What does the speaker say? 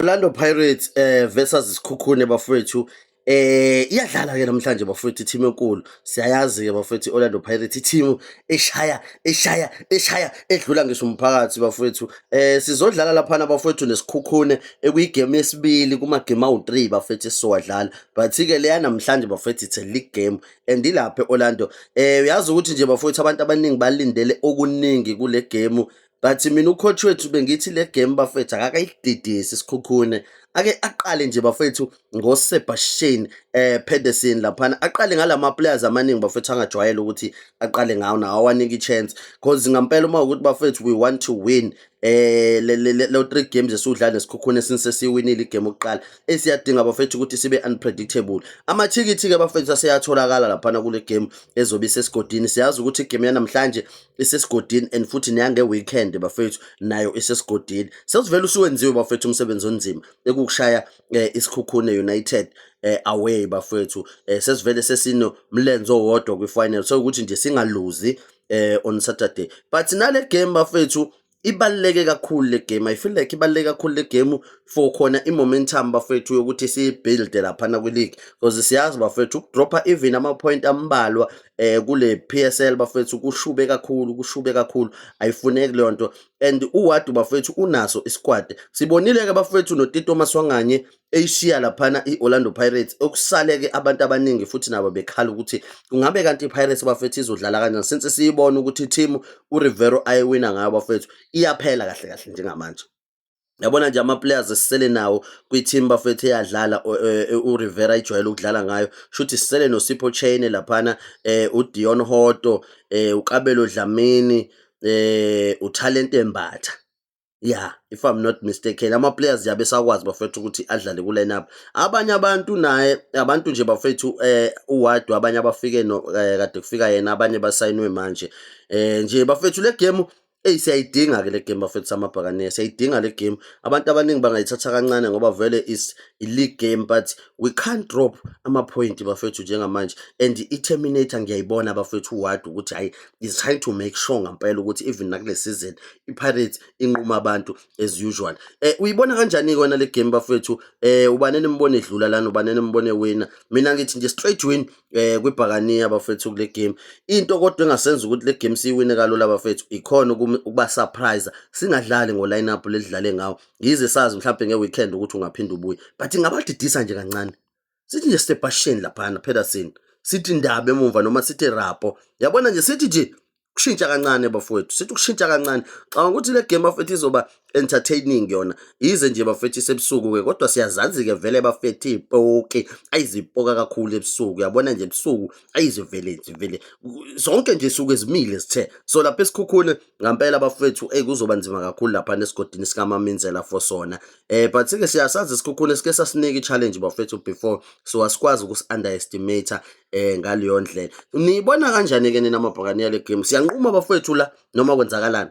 Orlando Pirates eh versus Sikhukhune bafowethu eh iyadlala ke namhlanje bafowethu team enkulu siyayazi ke bafowethu Orlando Pirates team eshaya eshaya eshaya edlula ngisho umphakathi bafowethu eh sizodlala lapha na bafowethu nesikhukhune ekuyigame yesibili kuma game awu3 bafowethu esiwadlala but ke leya namhlanje bafowethu it's a league game and ilapha eOrlando eh uyazi ukuthi nje bafowethu abantu abaningi balindele okuningi kule game but mina ucoach wethu bengithi le game bafethu akakayididisi sikhukhune ake aqale nje bafethu ngoSebastian eh Pedersen laphana aqale ngalama players amaningi bafethu angajwayele ukuthi aqale ngawo nawo awanike chance because ngampela uma ukuthi bafethu we want to win eh le le three games esudlala nesikhukhune since siwinile igame okuqala esiyadinga bafethu ukuthi sibe unpredictable amathikithi ke bafethu aseyatholakala laphana kule game ezobe sesigodini siyazi ukuthi igame yanamhlanje isesigodini and futhi neyange-weekend bafethu nayo isesigodini sesivele usuwenziwe bafethu umsebenzi onzima ekukushaya eh, isikhukhune united eh, away bafethu eh, sesivele sesinomlenze owodwa kwi-final so ukuthi nje singaluzi eh, on saturday but nale game bafethu ibaluleke kakhulu le game i feel like ibaluleke kakhulu le game for khona i-momentum bafethu yokuthi siyibuilde laphana kwi-league because siyazi bafethu ukudropha even ama-point ambalwa eh kule PSL bafethu kushube kakhulu kushube kakhulu ayifuneki leyo nto and uwadu bafethu unaso isquad sibonile ke bafethu notito maswanganye eyishiya laphana i-Orlando Pirates okusaleke abantu abaningi futhi nabo bekhala ukuthi kungabe kanti i-Pirates bafethu izodlala kanjani since siyibona ukuthi i-team uRivero ayiwina ngayo bafethu iyaphela kahle kahle njengamanje yabona nje ama-players esisele nawo kwi-team bafethu eyadlala e, e, urivera ijwayele ukudlala ngayo shuthi sisele nosipho chaine laphana um udion hoto um ukabelo dlamini um uthalente mbatha yeah if i'm not mistaken ama players yabe sakwazi bafethu ukuthi adlale ku lineup abanye abantu naye abantu nje bafethu eh uwadu abanye abafike no eh, kade kufika yena abanye basayinwe manje eh nje bafethu le game Ey siyayidinga ke le game bafethu samabhakane siyayidinga le game abantu abaningi bangayithatha kancane ngoba vele is i league game but we can't drop ama point bafethu njengamanje and i terminator ngiyayibona bafethu ward ukuthi hayi is trying to make sure ngampela ukuthi even nakule season iPirates inquma abantu as usual eh uyibona kanjani kona le game bafethu eh ubane nimbone edlula lana ubane nimbone wina mina ngithi nje straight win eh kwibhakaniya bafethu kule game into kodwa engasenza ukuthi le game siyiwine kalula bafethu ikhona ukuba surprise singadlali ngo lineup ledlale ngawo yize sazi mhlawumbe nge weekend ukuthi ungaphinda ubuye but ngabadidisa nje kancane sithi nje stebhasheni laphana Peterson sithi ndaba emumva noma sithi rapo yabona nje sithi nje kushintsha kancane bafowethu sithi kushintsha kancane xaba ukuthi le game bafethu izoba entertaining yona yize nje bafethu isebusuku ke kodwa siyazazi ke vele bafethu ipoke ayizipoka kakhulu ebusuku yabona nje ebusuku ayizivele nje vele zonke nje suku ezimile sithe so lapha esikhukhune ngampela bafethu eyi kuzoba nzima kakhulu lapha nesigodini sikamaminzela for sona eh but sike siyasazi isikhukhune sike sasinika i-challenge bafethu before so asikwazi ukusi-underestimate eh ngaleyo ndlela niyibona kanjani-ke nina amabhakaniya le game siyanquma bafethu la noma kwenzakalani